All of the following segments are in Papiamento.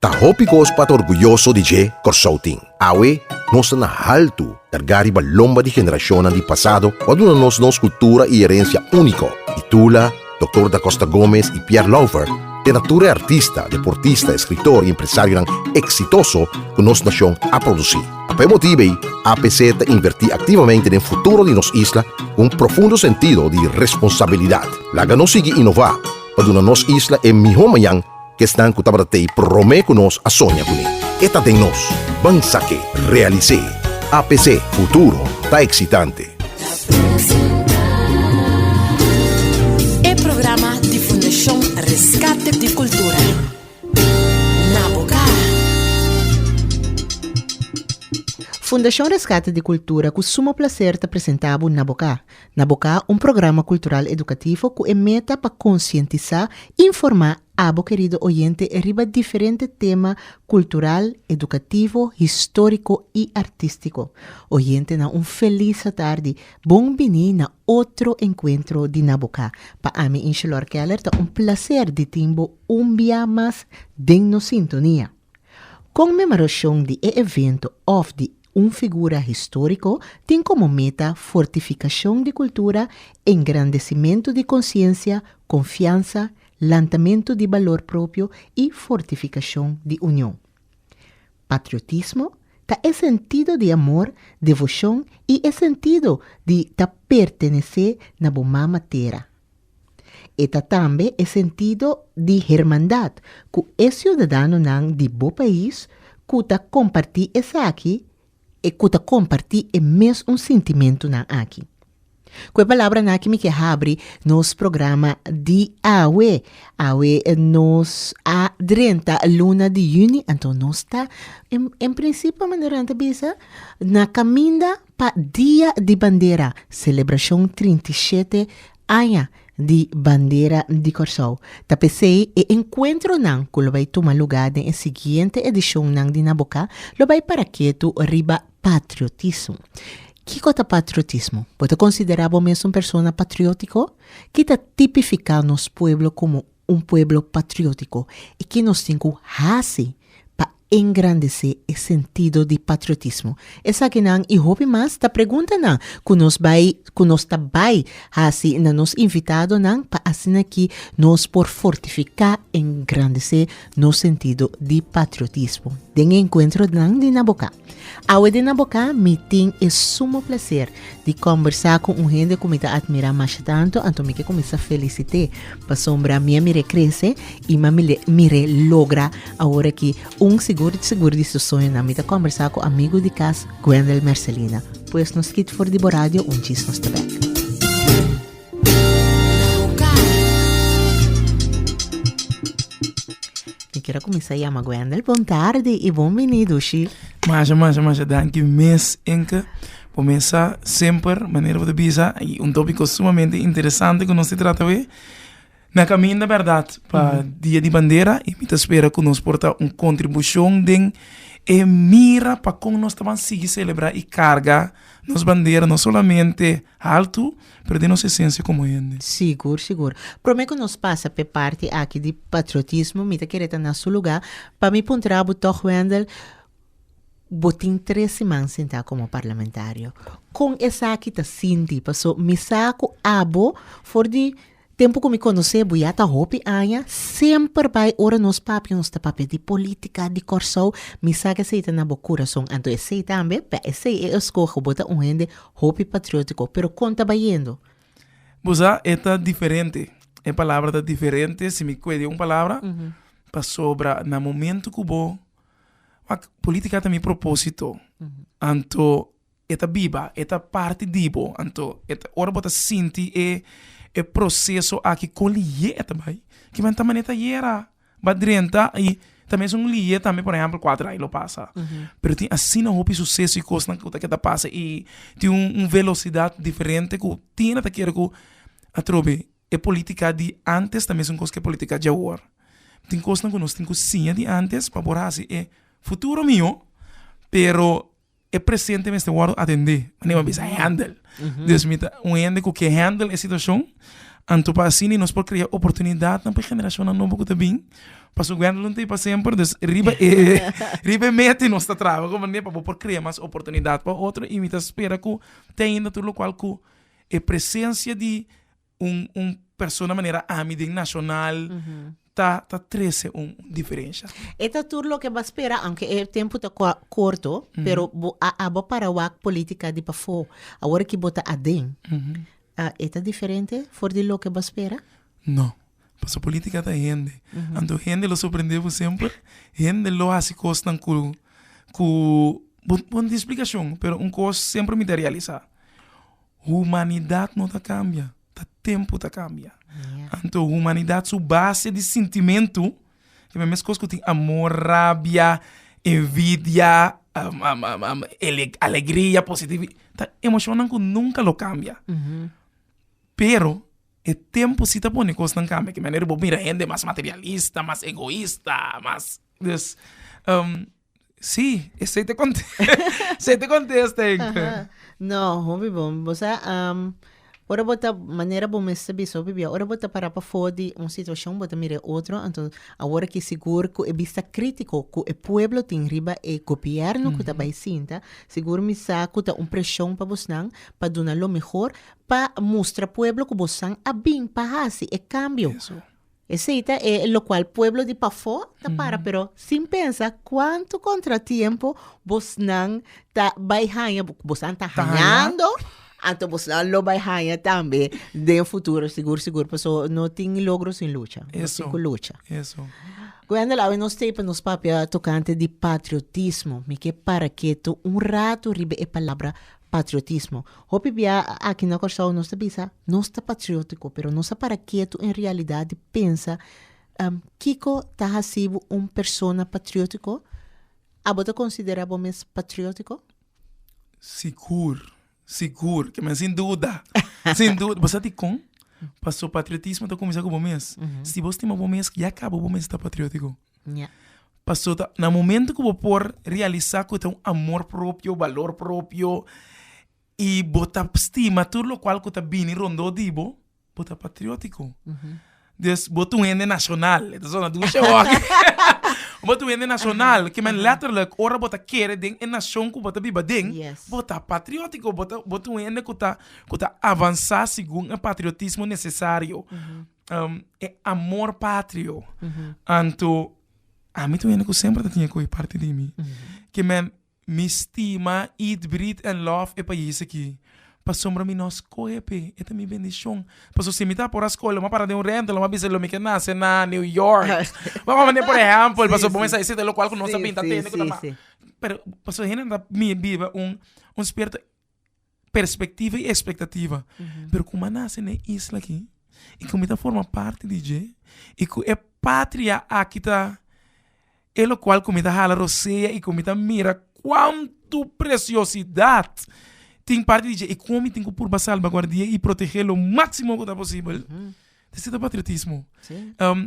Ta hopi kos pa ta orguyoso di dje Kòrsou tin. Awe, nos ta na haltu kargá riba lomba di generashonnan di pasado ku a duna nos nos kultura i erensia úniko. Di Tula, Doktor Da Costa Gomez i Pierre Louvert te na tur e artista, deportista, eskritor i empresarionan eksitoso ku nos nashon a produsí. A p'e motibu ei, APC ta invertí aktivamente den futuro di nos isla ku un profundo sentido di responsabilidat. Laga nos sigui inová pa duna nos isla e mihó mañan! Kesnan ku tabata t'ei promé ku nos a soña ku mi. E ta den nos. Ban sa ke, realis'é. A p'esé, futuro ta eksitante. E programa di Fundashon Reskate di Kultura, na boka. Fundashon Reskate di Kultura ku suma plaser ta presentá bo Na Boka. na boká un programa kultural edukativo ku e meta pa konsientisá i informá abo kerido oyente riba diferente tema kultural, edukativo, históriko i artístiko. Oyentenan un felis atardi, bon biní na otro enkuentro di Na Boká. Pa ami Inchelor Keller ta un plaser di tin bo un biá mas den nos sintonia. Konmemarashon di e evento òf di Un figura histórico tin como meta fortificacion di cultura, engrandecimento di conciencia, confiansa, lantamento di balor propio y fortificacion di union. Patriotismo ta e sentido di amor, devocion y e sentido di ta pertenece na bo mama tera, E ta tambe e sentido di hermandad cu e ciudadanonan di bo pais cu ta comparti esaki e cu ta comparti e mes un sintimentunan aki. Cu e palabranan aki mi ke habri nos programa di awe. Awe nos a drenta luna di juni, anto nos ta en principio manera nan ta bisa na caminda. Pa Dia di Bandera, selebrashon trinta i shete aña di bandera di Kòrsou, ta p'esei e enkuentronan ku lo bai tuma lugá den e siguiente edishonnan di Na Boká lo bai para ketu riba patriotismo. Kiko ta patriotismo? Bo ta konsiderá bo mes un persona patriótiko? Ki ta tipifiká nos pueblo komo un pueblo patriótiko i ki nos tin ku hasi pa engrandesé e sentido di patriotismo. Esakinan i hopi mas ta preguntanan ku nos bai ku nos ta bai hasi na nos invitadonan pa asina ki nos por fortifiká i engrandesé nos sentido di patriotismo den e enkuentronan di na Bokán. Awe den Nabokà mi tin e sumo plaser di kòmbersá ku un hende ku mi ta atmirá masha tantu, anto mi ke kuminsá felisit'é pasobra mi a mir'é krese i mi a mir'é logra awor aki un sigur sigur di su soñonan. Mi ta kòmbersá ku amigu di kas Gwendel Mercelina. Pues nos kit for di bo radio un djis nos ta bèk. Mi kier a kuminsá yama Wendel. Bon tardi i bon bini dushi. Masha, masha, masha danki mes, Enke. Bo mesa semper, manera bo ta bisa, un tópiko sumamente interesante ku nos ta trata awe. Na kaminda bèrdat pa Dia di Bandera i mi ta spera ku nos por ta un kontribushon den e mira pa kon nos ta ban sigui selebrá i karga nos bandera no solamente haltu pero den nos esensia komo hende. Sigur, sigur. Promé ku nos pasa p'e parti aki di patriotismo mi ta kere ta na su lugá pa mi puntra bo tòg Wendel, bo tin tres siman sentá komo parlamentario, kon esaki ta sinti? Paso mi sa ku abo for di Tempu ku mi konos'é bo ya ta hopi aña, semper bai ora nos papia nos ta papia di polítika di Kòrsou, mi sa ku esei ta na bo kurason, anto esei tambe, pa esei e eskoho bo ta un hende hopi patriótiko. Pero kon ta bayendo? Bo sa e ta diferente, e palabra ta diferente, si mi kue di un palabra, pasobra na momentu ku bo, wak, polítika ta mi propósito, anto E ta biba, e ta parti di bo. Anto, e ta ora bo ta sinti e e proseso aki kon liyee ta bai, ki mane ta mane ta yera, ba drenta i ta mester un liyee tambe por ehempel kuater ai lo pasa. Pero tin asina hopi suseso i kosnan ku ta ke ta pasa i tin un un velosidat diferente ku Tina ta kere ku atrobe e politika di antes ta mester un kos ku e politika di awor. Tin kosnan ku nos tin ku siña di antes pa por hasi e futuro mihó, pero e presente mester wòrdu atendé. Anto nos bisa hèndel. Dus mi ta un hende ku ke hèndel e situashon. Anto pa asina nos por krea oportunidatnan pa e generashonnan nobo ku ta bin. Pasobra Guendelin no ta e pa semper, dus riba e riba e meta nos ta traba ku manera pa bo por krea mas oportunidat pa otro. I mi ta spera ku te ainda tur lokual ku e presensia di un un persona manera ami den nacional ta ta trece un diferencia. E ta tur loke bo a spera aunke e tempo ta cua corto pero bo a abo para wak politica di pafo awor ki bo ta aden e ta diferente for di loke bo a spera? No, pasobra politica ta hende anto hende lo sorprende bo semper, hende lo haci cosnan cu cu bo bo no tin explicacion pero un cos semper mi ta realisa. Humanidat no ta kambia, ta tempu ta kambia. Anto humanidat su base di sintimentu ta e mes kos ku tin amor, rabia, envidia, alegria, positivi ta emoshonnan ku nunka lo kambia. Pero e tempu si ta pone kosnan kambia di manera ku bo mira hende mas materialista, mas egoista, mas. Sí, esei ta esei ta contesta enke. No, hopi bo. Bo sa, um, ora bo ta, manera bo mester bisa, hopi bia, ora bo ta para pafo di un situacion, bo ta mira e otro, anto awor aki sigur cu e bista critico cu e pueblo tin riba e gobierno cu ta bay sinta, sigur mi sa cu ta un presion pa bosnan pa duna lo mehor pa mustra pueblo cu bosan a bin pa haci e cambio. Esei ta e lokual pueblo di pafó ta para, pero sin pensa kuantu kontratiempo bosnan ta bai haña, bosnan ta hañando, anto bosnan lo bai haña tambe den futuro sigur sigur, paso no tin logro sin lucha, nos tin ku lucha. Wendel, awe nos ta e pa nos papia tokante di patriotismo, mi ke para ketu un ratu riba e palabra patriotismo. Hopi bia aki na Kòrsou nos ta bisa nos ta patriótiko, pero nos a para ketu en realidat di pensa kiko ta hasi bo un persona patriótiko? Abo ta konsiderá bo mes patriótiko? Sigur, sigur, kimen sin duda, sin duda. Bo sa dikon? Pasobra patriotismo ta kuminsá ku bo mes. Si bo stima bo mes, ya kaba bo mes ta patriótiko. Pastor ta na momento ku bo por realisa ku ta un amor propio, balor propio i bo ta stima tur lokual ku ta bini rondó di bo, bo ta patriótiko. Des bo ta un hende nashonal, e ta sona dushe awor. Bo ta un hende nashonal, ke men letterlijk ora bo ta kere den e nashon ku bo ta biba aden, bo ta patriótiko, bo ta bo ta un hende ku ta ku ta avansá segun e patriotismo nesesario. e amor patrio. Anto ami ta un hende ku semper ta tine ku e parti di mi ke men mi stima, eat, breathe and love e pais aki pasobra mi no skohe p'e, e ta mi bendishon. Paso si mi ta por a skohe lo mi a para den un rènte lo mi a bisa lo mi ke nase na new york bo a pone por ehèmpel paso bo mi sa esite lokual ku no sa binta tende ku ta mas pero paso hende no ta biba un spiritu. perspectiva y expectativa pero como a nace ne isla aki y como mi ta forma parte di dje y cu e patria aki ta e locual cu mi ta hala rosea y cu mi ta mira cuanto preciosidad tin parte di dje y como mi tin cu purba salbaguardia y protege lo maximo cu ta posibel esey ta patriotismo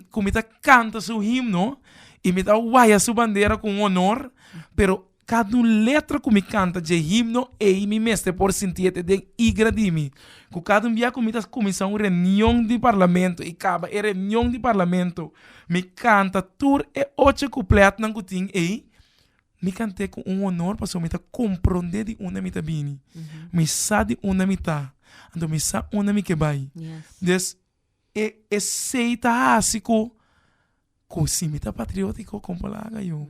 cu mi ta canta su himno y mi ta waya su bandera con honor pero Kada un letra ku mi kanta dje himno ei mi mester por sinti e ta den igra di mi. Ku kada un bia ku mi ta kuminsá un reunion di parlamento i kaba e reunion di parlamento mi kanta tur e ocho kuplètnan ku tin ei, mi kant'é ku un honor pasobra mi ta komprondé di unda mi ta bini. Mi sa di unda mi ta. Anto mi sa unda mi ke bai. Des. E esei ta hasi ku ku si mi ta patriótiko kon por laga yo?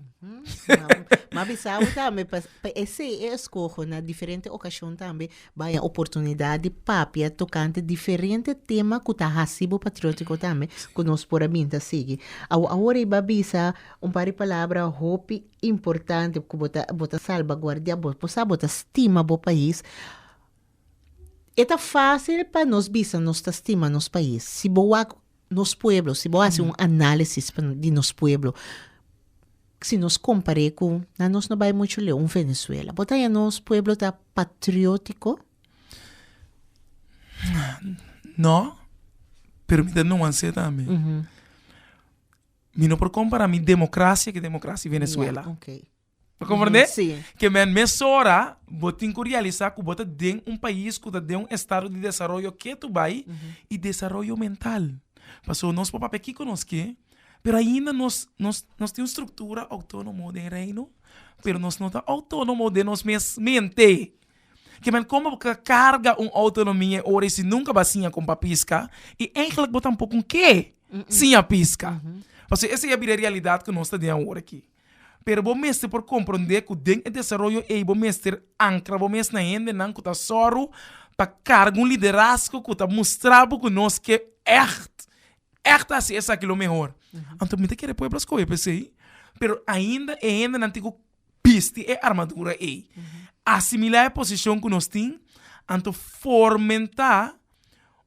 M'a bisa awe tambe pa pa esei e eskoho na diferente okashon tambe bai a oportunidat di papia tokante diferente tema ku ta hasi bo patriótiko tambe ku nos por a binta sigui. Awo awor ei b'a bisa un par di palabra hopi importante ku bo ta bo ta salbaguardia bo bo sa bo ta stima bo pais. E ta fásil pa nos bisa nos ta stima nos pais. Si bo wak nos pueblo, si bo hasi un análisis di nos pueblo, si nos kompar'é ku, nan nos no bai muchu leu, un Venezuela, bo ta haña nos pueblo ta patriótiko? No, pero mi ta nuans'é tambe. Mi no por kompará mi demokrasia ku demokrasia Venezuela. Ta comprende? Sí. Ke men mesora bo tin ku realisa ku bo ta den un pais ku ta den un estado di desaroyo ketu bai i desaroyo mental. Paso nos por papia kiko nos ke, pero ainda nos nos nos tin un struktura outonomo den Reino, pero nos no ta outonomo den nos mes mente. Ke men komo bo ka karga un outonomia e ora i si nunka bo a siña kon bo a piska i eigelik bo tampoco ke siña piska. Paso esa ya bira e realidad ku nos ta den awor aki. Pero bo mester por komprondé ku den e desaroyo ei bo mester ankra bo mes na hendenan ku ta sòru pa karga un liderazgo ku ta mustra bo ku nos ke ègt, ègt a hasi esaki lo mehor. Anto mi ta kere poi Blasko e p'esei, pero ainda e hendenan tin ku bisti e armadura ei, asimilá e posishon ku nos tin, anto formentá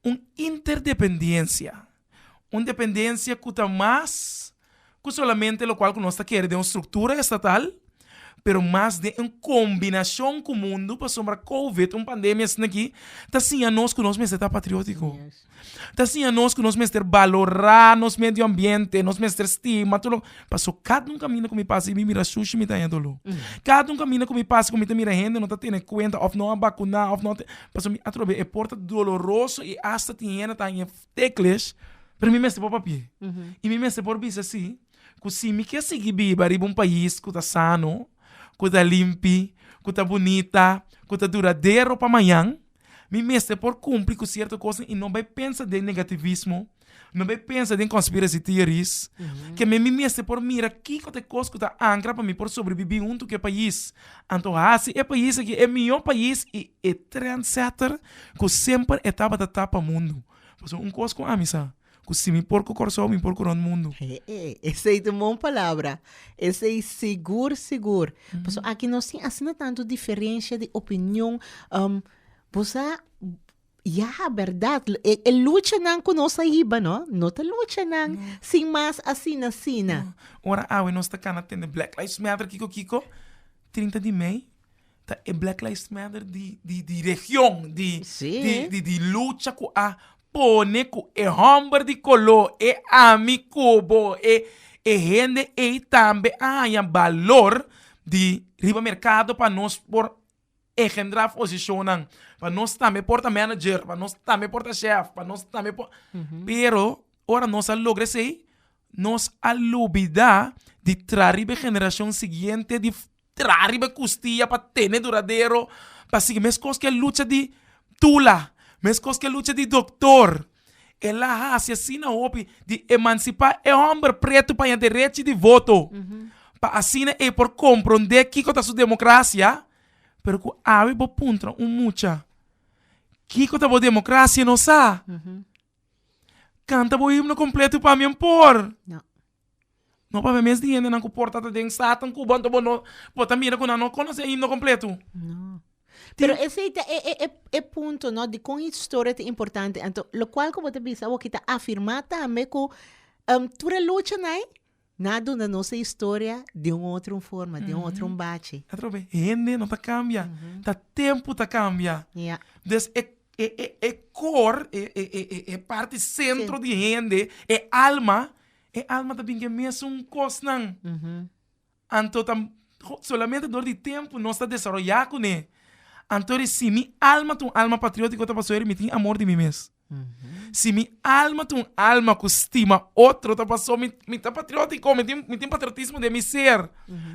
un interdependensia. un dependensia ku ta mas ku solamente lokual ku nos ta kere den un struktura estatal, pero mas den un kombinashon ku mundu pasobra kouvet, un pandemia asina aki, ta siña nos ku nos mester ta patriótiko, ta siña nos ku nos mester balorá nos medio ambiente, nos mester stima tur lo, paso kada un kaminda ku mi pasa i mi mira shushi mi ta haña dolo, kada un kaminda ku mi pasa ku mi ta mira hende no ta tene kuenta òf no a bakuná òf no a tene pasobra mi a trob'é e por ta doloroso i asta tin hende ta haña. Tekles, pero mi mester por papia. I mi mester por bisa si, ku si mi ke sigui biba riba un pais ku ta sano, ku ta limpi, ku ta bunita, ku ta duradero pa mañan, mi mester por kumpli ku sierto kosnan i no bai pensa den negativismo, no bai pensa den conspiracy theories. Ke mi mester por mira kiko ta e kos ku ta ankra pa mi por sobrebibi huntu ku e pais. Anto hasi e pais aki e mihó pais i E trendsetter cu semper e tabata ta pa mundo. Pasobra un cos cu ami sa, cu si mi por cu Corsou, mi por cu rond mundo. Hee, esey ta un bon palabra. Esey sigur, sigur. Pasobra aki no sin asina tanto diferencia di opinion. Bo sa, ya, berdad, e, e luchanan cu nos a hiba, no, no ta luchanan sin mas asina, asina. Ora awe nos ta cana tende Black Lives Matter, kico, kico, trinta di mei, ta e Black Lives Matter di di di region, di Sí. di di di lucha ku a pone ku e hòmber di koló, e ami ku bo, e e hende ei tambe a haña balor di riba merkado pa nos por engendrá posishonnan, pa nos tambe por ta manager, pa nos tambe por ta shèf, pa nos tambe por, pero ora nos a logra esei nos a lubidá di traha riba e generashon siguiente di Tra riba e kustia pa tene duradero pa sigui meskos ke lucha di tula meskos ke lucha di doktor el a hasi asina hopi di emansipá e hòmber pretu pa haña derechi di voto pa asina e por komprondé kiko ta su demokrasia pero ku awe bo puntra un mucha kiko ta bo demokrasia no sa kanta bo himno kompletu pami an por. No papia mes di hendenan ku por ta ta den stad tan kuba anto bo no bo ta mira ku nan no konosé himno kompletu. Pero esei ta e e e punto no di kon historia ta importante anto lokual ku bo ta bisa awor ki ta afirmá tambe ku tur e luchanai nan a duna nos e historia di un otro forma di un otro bachi. Hende no ta kambia ta tempu ta kambia des e e e e kor e e e e parti sentro di hende e alma e alma ta binke mesun kosnan. Anto ta solamente dor di tempu nos ta desaroyá kuné. Anto ri si mi alma ta un alma patriótiko ta pasó mi tin amor di mi mes. Si mi alma ta un alma ku stima otro ta pasó mi mi ta patriótiko, mi tin mi tin patriotismo den mi ser.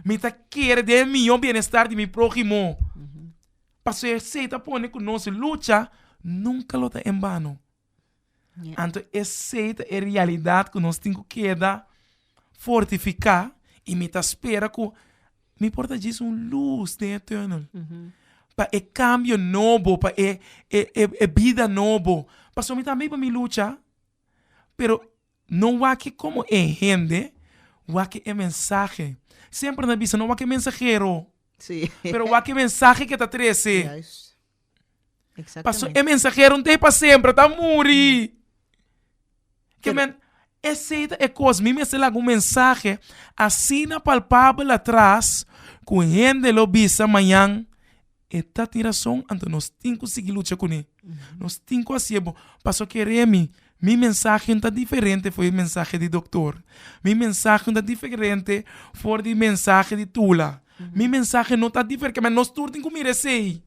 Mi ta kere den e mihó bienestar di mi próhimo. Pasobra esei ta pone ku nos lucha nunka lo ta en bano. Anto esei ta e realidad cu nos tin cu keda fortifica y mi ta spera cu mi por ta djis un luz den e tunnel pa e cambio nobo, pa e bida nobo, pasobra mi tambe pa mi lucha pero. No wak-e komo e hende wak e mensahe. Semper nan bisa, no wak e mensahero, pero wak e mensahe ke ta trese. Pasobra e mensahero n'ta hiba semper, e ta muri. Kimente, esei ta e kos, mi mester laga un mensahe asina palpabel atras ku hende lo bisa mañan. E ta tin rason, anto nos tin ku sigui lucha kuné. Nos tin ku hasié bon. Paso keré mi, mi mensahe no ta diferente for e mensahe di doktor. Mi mensahe no ta diferente for di mensahe di Tula. Mi mensahe no ta dife, kema nos tur tin ku mira esei.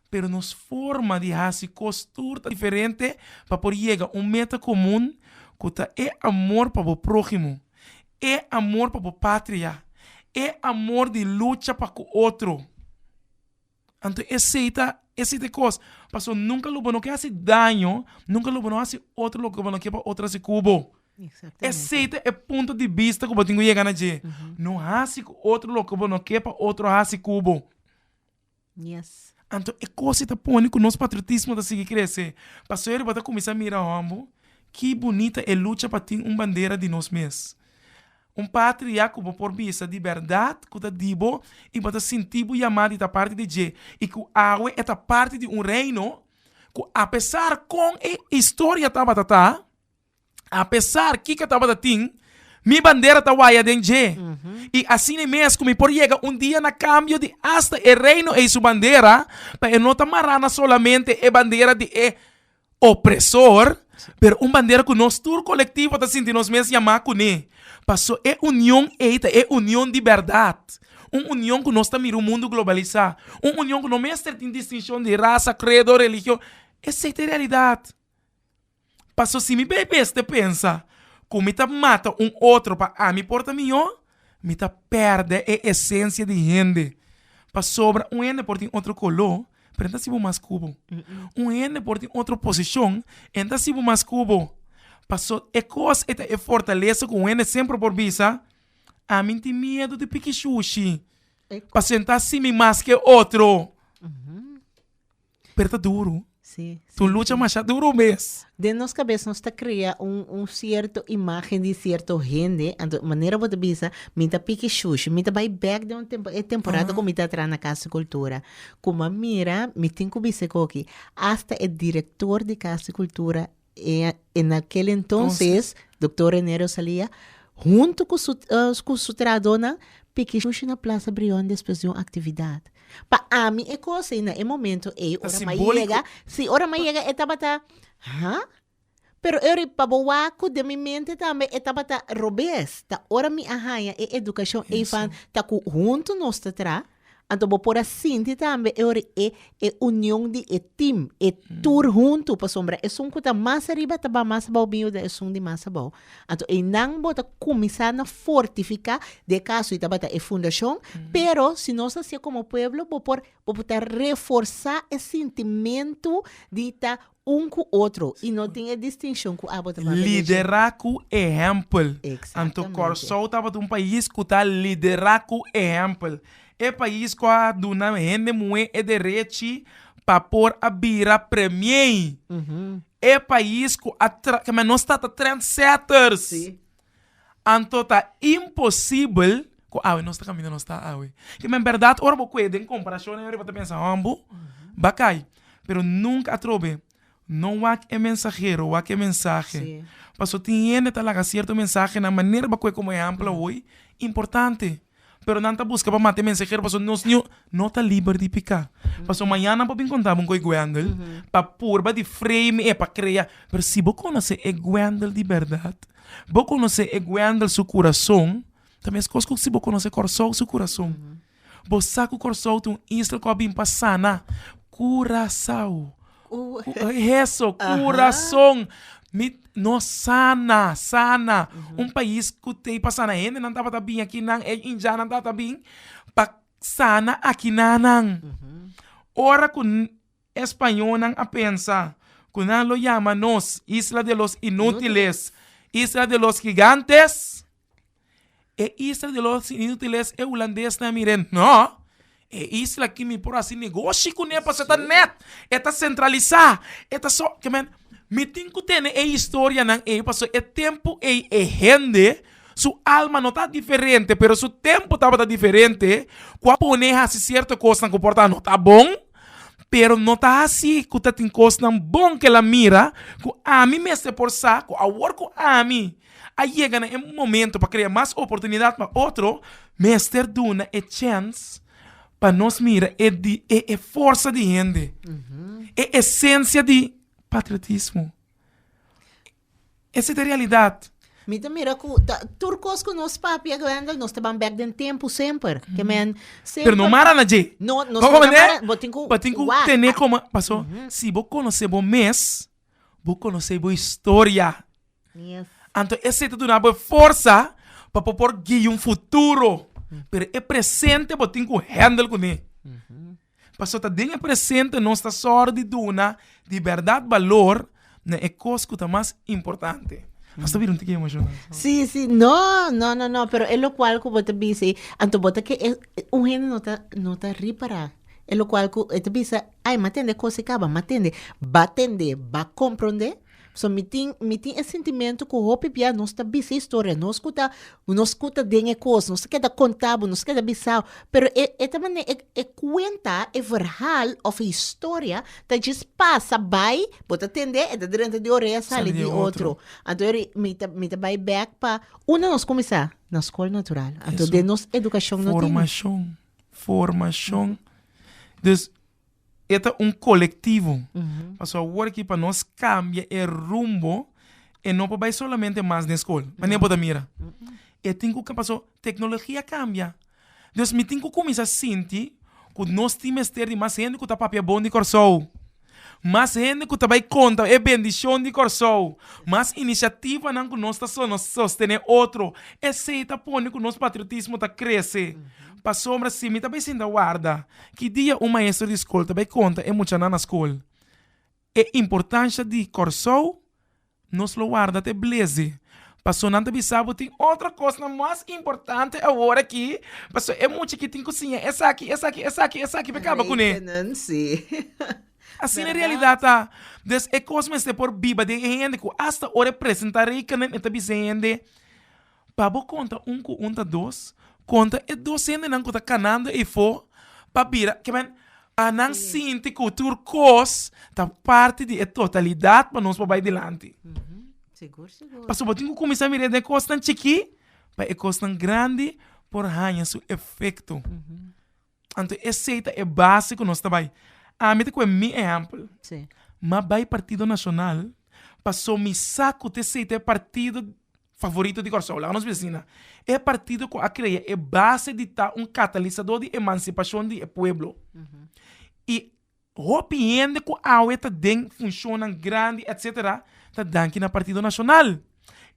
Pero nos forma di hasi kos tur ta diferente pa por yega un meta komun ku ta e amor pa bo próhimo. e amor pa bo patria, e amor di lucha pa ku otro. Anto esei ta esei ta e kos, paso nunka lo bo no ke hasi daño, nunka lo bo no hasi otro loke bo no ke pa otro hasi ku bo. Esei ta e punto di bista ku bo tin ku yega na dje, no hasi ku otro loke bo no ke pa otro hasi ku bo. Yes. Anto e cos ei ta pone cu nos patriotismo ta sigui crece, pasobra riba bo ta cuminsa mira homber ki bunita e lucha pa tin un bandera di nos mes, un patria cu bo por bisa di berdad cu ta di bo y bo ta sinti bo yama di ta parti di dje y cu awe e ta parti di un reino cu apesar con e historia tabata ta A pesar kiko tabata tin, mi bandera ta waya den dje. I asina mes ku mi por yega un dia na kambio di asta e Reino ei su bandera, pa e no ta mará na solamente e bandera di e opresor, pero un bandera ku nos tur kolektivo ta sinti nos mes yamá kuné. Pasó e union ei ta e union di bèrdat, un union ku nos ta mira un mundu globalisá, un union ku no mester tin distinshon di rasa, kredo, religion. Esei ta e realidat. Paso si mi bay bes te pensa cu mi ta mata un otro pa ami por ta mijo, mi ta perde e esencia di hende. Pasobra un hende por tin otro colo, pero e no ta sibo mas cubo. Un hende por tin otro posicion, e no ta sibo mas cubo. Paso e cos eta e fortaleza cu un hende semper por bisa, ami no tin miedo di piki shushi, pasobra e no ta hasi mi mas ke otro. Pero ta duru. Sí, sí, Tu lucha sí. masha duru mes. Den nos kabes nos ta krea un un sierto imágen di sierto hende, anto manera bo ta bisa mi ta piki shushi, mi ta bai bèk den un tempo e temporada Aha. ku mi ta tra na Casa di Cultura. Ku mi a mira mi tin ku bisa e koki, asta e direktor di Casa di Cultura En aquel entonces Doctor Renerio Salia hunto cu su cu su trahadornan piki sushi na Plaza Brion despues di un actividad. Pa ami e cos ey na e momento ey ora m'a yega, si ora m'a yega e tabata ha? Pero e ora pa bo waco den mi mente tambe e tabata robes, ta ora mi a haya e educacion ey van ta cu hunto nos ta traha Anto bo por a sinti tambe e ora e e union di e team, e tur huntu, pasobra esun ku ta mas ariba ta ba mas abou biu den esun di mas abou. Anto einan bo ta kuminsá na fortifiká den e kaso ei tabata e fundashon, pero si nos ta hasié komo pueblo bo por bo por ta reforsá e sintimentu di ta un ku otro i no tin e distinshon ku abo ta papia leshi. Liderá ku ehèmpel. Anto Kòrsou tabata un pais ku ta liderá ku ehèmpel. E pais ku a duna hende muhé e derechi pa por a bira premiei. E pais ku a tra, ke men nos ta ta trendsetters. Anto ta imposibel ku awe nos ta kaminda nos ta awe. Te men bèrdat ora bo kue den komparashonnan yoriba ta pensa hòmb bo ba kai. Pero nunka atrobe no wak e mensahero, wak e mensahe. Pasobra tin hende ta laga sierto mensahenan manera ba kue komo ehèmpel awoy importante. pero nan ta buska pa mata e mensaher pasobra nos niu no ta liber di peka. Pasobra mañana nan por bin conta bo un gueguendel pa purba di frame e, pa crea, pero si bo conoce e guendel di berdad, bo conoce e guendel su curason, ta mescos cu si bo conoce Corsou su curason. Bo sa cu Corsou ta un isla cu a bin pa sana Curasao. Heso, kurason. Mi, nos sana, sana. Un pais ku tei pa sana hende, nan tabata bin aki nan, e inyanan tabata bin pa sana akinanan. Ora ku e spañonan a pensa ku nan lo yama nos isla de los inútiles, isla de los gigantes. E isla di los inútiles e hulandesnan a mira e nò, e isla aki mi por hasi negoshi kuné pasobra ta nèt, e ta sentralisá, e ta so, ke men, mi tin ku tene e historianan ei pasobra e tempu ei e hende su alma no ta diferente pero su tempu tabata diferente ku a pone hasi sierto kosnan ku por ta no ta bon pero no ta hasi ku ta tin kosnan bon ku el a mira ku ami mester por sa ku awor ku ami A yega na e momento pa krea mas oportunidat pa otro, mester duna e chèns pa nos mira e di e e forsa di hende, e esensia di patriotismo. Esei ta e realidat. Mi ta mira ku ta tur kos ku nos papia i Wendel nos ta ban bèk den tempu semper, ke men semper Pero no mara na dje. No, nos no ta Koko mara, bo tin ku bo tin ku wak. tene koma, paso si bo konosé bo mes, bo konosé bo historia. Anto esei ta duna bo e forsa pa bo por guia un futuro, pero e presente bo tin ku hendel kuné. Pasobra ta den e presente nos ta sòru di duna di bèrdat balor na e kos ku ta mas importante. Pasobra bira un tiki emoshoná. Sí, sí, no, no, no, no, pero e lokual ku bo ta bisa ei, anto bo ta ke e, un hende no ta, no ta ripará e lokual ku e ta bisa ai m'a tende e kos ei kaba, m'a tende, b'a tende, b'a komprondé. So mi tin mi tin e sintimentu ku hopi bia nos ta bisa historia nos ku ta nos ku ta den e kos nos ta keda konta bo nos ta keda bisa bo pero e e ta manera e kuenta e verhal òf e historia ta djis pasa bai bo ta tende e ta drenta di orea sali di otro anto eri mi ta mi ta bai bèk pa unda nos kuminsá na skol natural anto den nos edukashon no tin. E ta un kolektivo. Pasobra awor aki pa nos kambia e rumbo e no por bai solamente mas den skol. Mane bo ta mira? E tin ku paso teknologia kambia. Dus mi tin ku kuminsá sinti ku nos tin mester di mas hende ku ta papia bon di Kòrsou. Mas hende ku ta bai konta e bendishon di Kòrsou. Mas inisiativanan ku nos ta sostené otro. Esei ta pone ku nos patriotismo ta krese. Pasobra si mi ta bai sinta warda Ki dia un maestro di skol ta bai konta e muchanan na skol e importansha di Kòrsou, nos lo warda te bleze, paso nan ta bisa bo tin otro kosnan mas importante awor aki, paso e mucha ki tin ku siña esaki, esaki, esaki, esaki pa kaba kuné. Rekenen, sí. Asina e realidat ta. Des e kos mester por biba den e hende ku asta ora e presentá rekenen e ta bisa e hende, Pa bo konta un ku un ta dos, konta e dos hendenan ku ta kanando efo pa bira, ke men, pa nan sinti ku tur kos ta parti di e totalidat pa nos por bai dilanti. Pasobra bo tin ku kuminsá mira den e kosnan chikí pa e kosnan grandi por haña su efekto. Anto esei ta e base ku nos ta bai. Ami ta kue mi ehèmpel. M'a bai Partido Nacional paso mi sa ku ta esei ta e partido favorito di Kòrsou. Laga nos bisa asina. E partido ku a krea e base di ta un katalisadó di emansipashon di e pueblo. I. Hopi hende ku awe ta den funshonnan grandi etc ta danki na Partido Nashonal.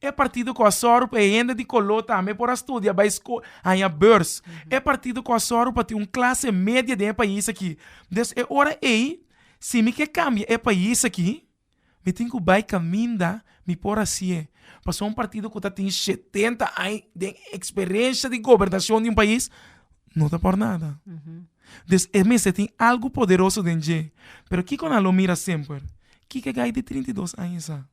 E partido ku a sòru pa e hende di koló tambe por a studia, bai sko, haña beurs. E partido ku a sòru pa tin un klase media den e pais aki. Des e ora ei si mi ke kambia e pais aki. Mi tin ku bai kaminda mi por hasié, pasobra un partido ku ta tin shetenta aña den eksperensha di gobernashon di un pais no ta por nada. Des e mester tin algu poderoso den dje. Pero kiko nan lo mira semper? Kiko e gai di trinta i dos aña sa?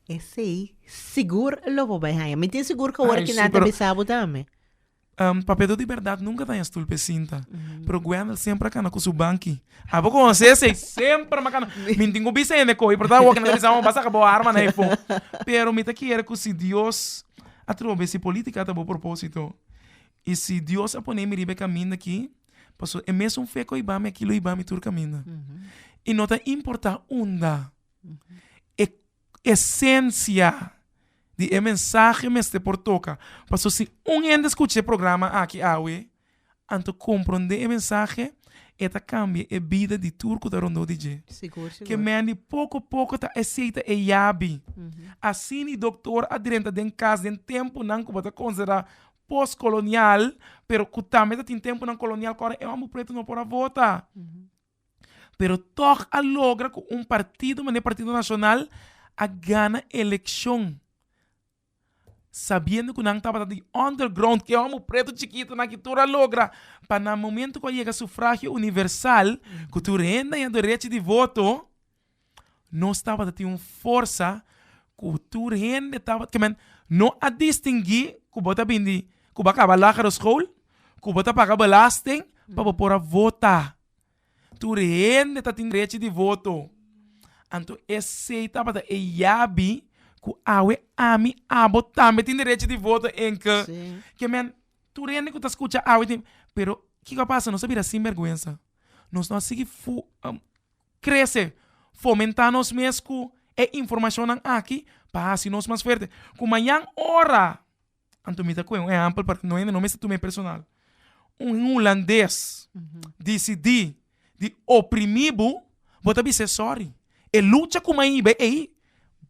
Esei sigur lo por bai haña. Mi tin sigur ku ora kinan ta bisa bo tambe. Papeto di berdad nunka ta den stul p'e sinta, pero Gwendel semper a kana ku su banki. Abo ku José sey semper mi a kana. Mi tin ku bisa hende ko'i, pero ta awor ku nan ta bisa bo a saka bo arma na e po. Pero mi ta kere ku si Dios a troba b'e si politika ta bo propósito i si Dios a pone mi riba e kaminda akí, pasobra e mesun fe ku a iba mi aki lo iba mi tur kaminda. I no ta importa unda e. esensia di e mensahe mester por toka. Pasobra si un hende skucha e programa aki awe, anto komprondé e mensahe, e ta kambia e bida di tur ku ta rondó di dje. Ke men di poko poko ta eseita e yabi. Asina e doktor a drenta den kas den tempunan ku bo ta konsiderá pos-kolonial, pero ku tambe ta tin tempunan kolonial ku ora e man bo pretu no por a vota. pero tòg a logra ku un partido mané Partido Nacional a gana elekshon sabiendo ku nan tabata di under ground ke homo pretu chikitu aki tur a logra pa na momento ku a yega sufragio universal ku tur hende a hia derechi di voto Nos tabata tin un forsa ku tur hende tabat ke men no a distingui ku bo ta bin di ku bo a kaba lagere school ku bo ta paga belasting pa bo por a vota tur hende tatin derechi di voto anto esei tabata e yabi ku awe ami abo tambe tin derechi di voto enke ke men tur hende ku ta skucha awe tin pero kiko a pasa nos a bira sinberguensa nos no a sigui Krese, fomentá nos mes ku e informashonnan aki pa hasi nos mas fuerte. Ku mañan ora, anto mi ta kue un ehèmpel pa no hende no mester tuma personal, un hulandes disidí di oprimí bo, bo ta bis'é sòri. E lucha ku mai bo ei,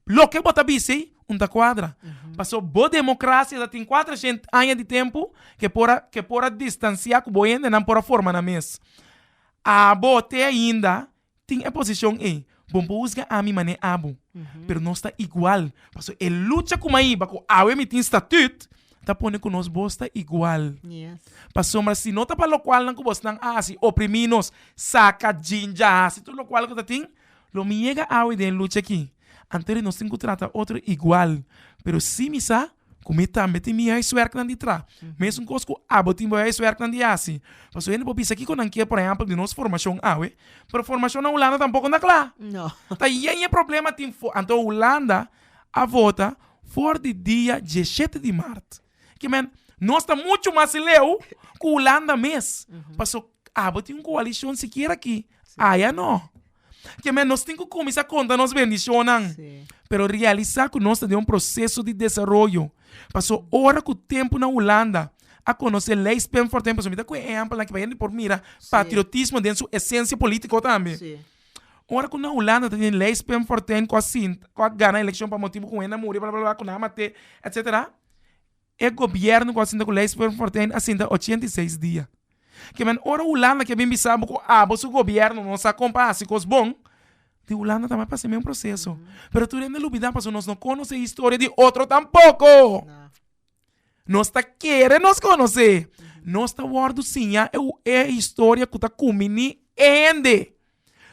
loke bo ta bisa ei un ta kuadra. Pasobra bo demokrasia ta tin kuater shent aña di tempu ke por a ke por a distansiá ku bo hendenan por a forma nan mes. Abo, te ainda tin e posicion ey. Bon por husga ami mane abo, pero nos ta igual, pasobra e lucha cu mai ba cu awe mi tin statut ta pone cu nos voz ta igual. Pasobra si no ta pa locualnan cu bosnan a haci, oprimi nos, saca jinja, haci tur locual cu ta tin, lo mi yega awe den e lucha aki, anto di nos tin cu trata otro igual, pero si mi sa ku mi tambe tin mi huiswerknan di traha, mesun kos ku abo tin bo huiswerknan di hasi, pasobra hende por bisa kiko nan ke por ehèmpel di nos formashon awe, pero formashon na hulanda tampoco no ta kla, ta yen yen problema tin for, anto hulanda a vota for di dia dieshete di mart, ke men nos ta muchu mas leu ku hulanda mes, paso abo tin un koalishon sikiera aki Aya no. Ke men nos tin ku kuminsá konta nos bendishonnan, pero realisá ku nos ta den un proseso di desaroyo. Pasó ora ku tempu na Hulanda a konosé Leys Pim Fortuyn, pasobra mi ta kohe ehèmpelnan ku hende por mira patriotismo den su esensia polítiko tambe. Ora ku na Hulanda tabata Leys Pim Fortuyn ku a sinta ku a gana elekshon pa motibu ku hende a muri bla bla bla ku nan a mat'é etcetera E gobièrnu ku a sinta ku Lex Peur Fortuyn a sinta ochenta i seis dia. Kimen ora Hulanda ke bin bisa bo ku abo su gobièrnu no sa kon pa hasi kos bon, di Hulanda tambe a pasa e mesun proseso. Pero tur hende lo olbidá pasobra nos no konosé e historia di otro tampoko. Nos ta kere nos konosé. Nos ta wòrdu siñá e historia ku ta kuminí e hende.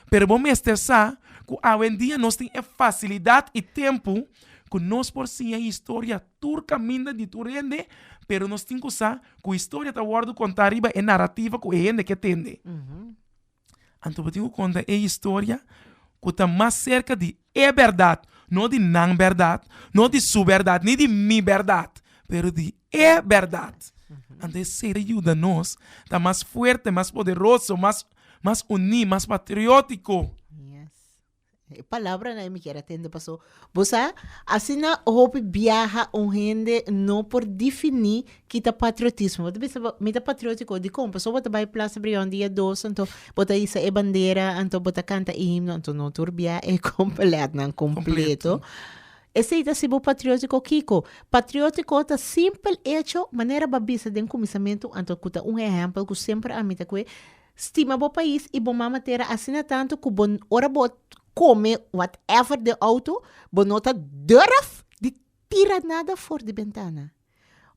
Pero bo mester sa ku awendia nos tin e fasilidat i tempu ku nos por siña historia tur kaminda di tur hende, pero nos tin ku sa ku historia ta wòrdu kontá riba e narativa ku e hende ke tende. Anto bo tin ku konta e historia ku ta mas serka di e bèrdat, no di nan bèrdat, no di su bèrdat, ni di mi bèrdat, pero di e berdad. Anto e sera yuda nos ta mas fuerte, mas poderoso, mas mas uní, mas patriótiko. E palabranan ei mi kier atende paso bo sa asina hopi biaha un hende no por difiní ki ta patriotismo. Bo ta bisa mi ta patriótiko dikon? Pasobra bo ta bai Plaza Brion dia dos anto bo ta isa e bandera, anto bo ta kanta e himno, anto no tur biaha e completnan completo. Esei ta si bo patriótiko kiko? Patriótiko ta simpel echo, manera bo a bisa den kuminsamentu anto ku ta un ehèmpel ku semper a mita kue, stima bo pais i bo mama tera asina tantu ku bo ora bo kome whatever den outo bo no ta durf di tira nada for di bentana.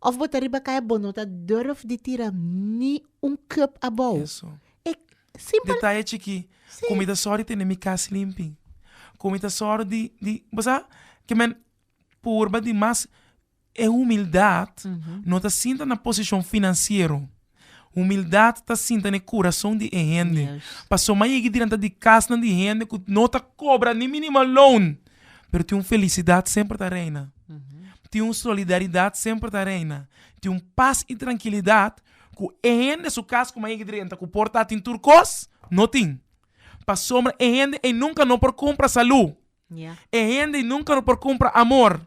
Of bo ta riba kaya bo no ta durf di tira ni un cup abou. Eso. E simpel. Detaye chiki. Si. Ku mi ta sòru di tene mi kas limpi. Ku mi ta sòru di di bo sa ke men purba di mas e humildat no ta sinta na posishon finansiero. Humildat ta sinta n'e kurason di e hende. Paso m'a yega dilanti di kasnan di hende ku no ta kobra ni minimal loan, pero tin un felisidat semper ta reina. Tin un solidaridat semper ta reina. Tin un pas i trankilidat ku e hende su kas ku m'a yega drenta ku por ta atin tur kos, no tin. Pasobra e hende ei nunka no por kumpra salu. E hende nunka no por kumpra amor,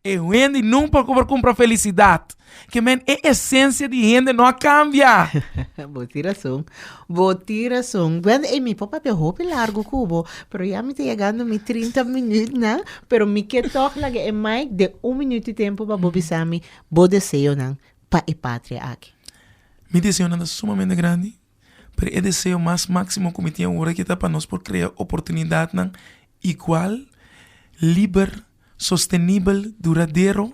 e hende nunka no por kumpra felisidat. Ke men e esensia di hende no a kambia. Bo tin rason, bo tin rason. Wende, ey mi por papia hopi largu ku bo, pero ya mi ta yegando mi trinta minütnan, pero mi ke tog laga e mic den un minüt di tempu pa bo bisa mi bo deseonan pa e patria aki. Mi deseonan ta sumamente grandi. pero e deseo mas máksimo ku mi tin awor aki ta pa nos por krea oportunidatnan igual, liber, sostenibel, duradero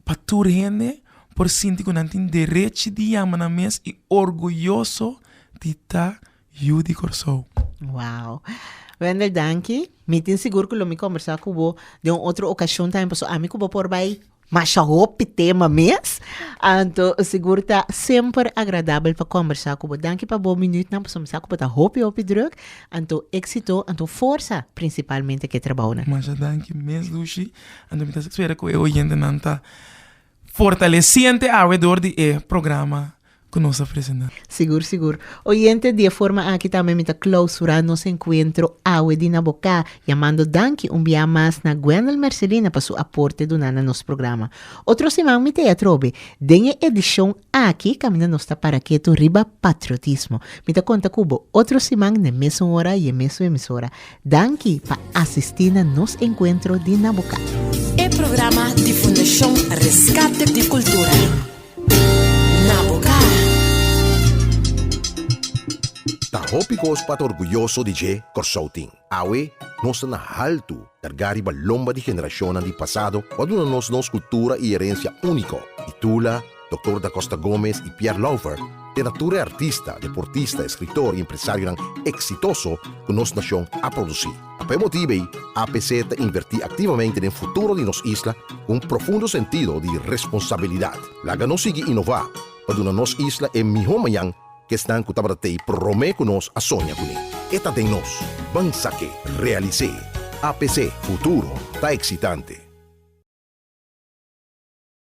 pa tur hende por sinti ku nan tin derechi di yama nan mes i orguyoso di ta Yu di Kòrsou. Wow. Wender danki. Mi tin sigur ku lo mi kombersá ku bo den un otro okashon tambe pasobra ami ku bo por bai masha hopi tema mes. Anto sigur ta semper agradabel pa kombersá ku bo. Danki pa bo minütnan pasobra mi sa ku bo ta hopi hopi drùk. Anto éksito, anto forsa prinsipalmente ke trabounan. Masha danki mes Lushi. Anto mi ta spera ku e oyentenan ta Fortalesiente awe dor di e programa ku nos a presentá. Sigur, sigur. Oyente, di e forma aki tambe mi ta klausurá nos enkuentro awe di na boká, yamando danki un biaha mas na Gwendel Mercelina pa su aporte duná na nos programa. Otro siman mi ta e atrobe den e edishon Aki caminda nos ta para ketu riba patriotismo. Mi ta conta cu bo otro siman n'e mesun ora y e mesun emisora. Danki pa asisti na nos encuentro di na bo casa. E programa di Fundacion Rescate di Cultura, Na bo ca. Ta hopi cos pa ta orguyoso di dje Corsou tin. Awe, nos ta na haltu, kargá riba lomba di generashonnan di pasado ku a duna nos nos kultura i herensia úniko. Di Tula, Doktor Da Costa Gomez i Pierre Louvert te na tur e artista, deportista, eskritor i empresarionan eksitoso ku nos nashon a produsí. Pa e motibu ei, APC ta invertí aktivamente den futuro di nos isla ku un profundo sentido di responsabilidat. Laga nos sigui inová pa duna nos isla e mihó mañan Kesnan ku tabata t'ei promé ku nos a soña ku mi. E ta den nos. Ban sak'é. Realis'é. APC, Futuro ta eksitante.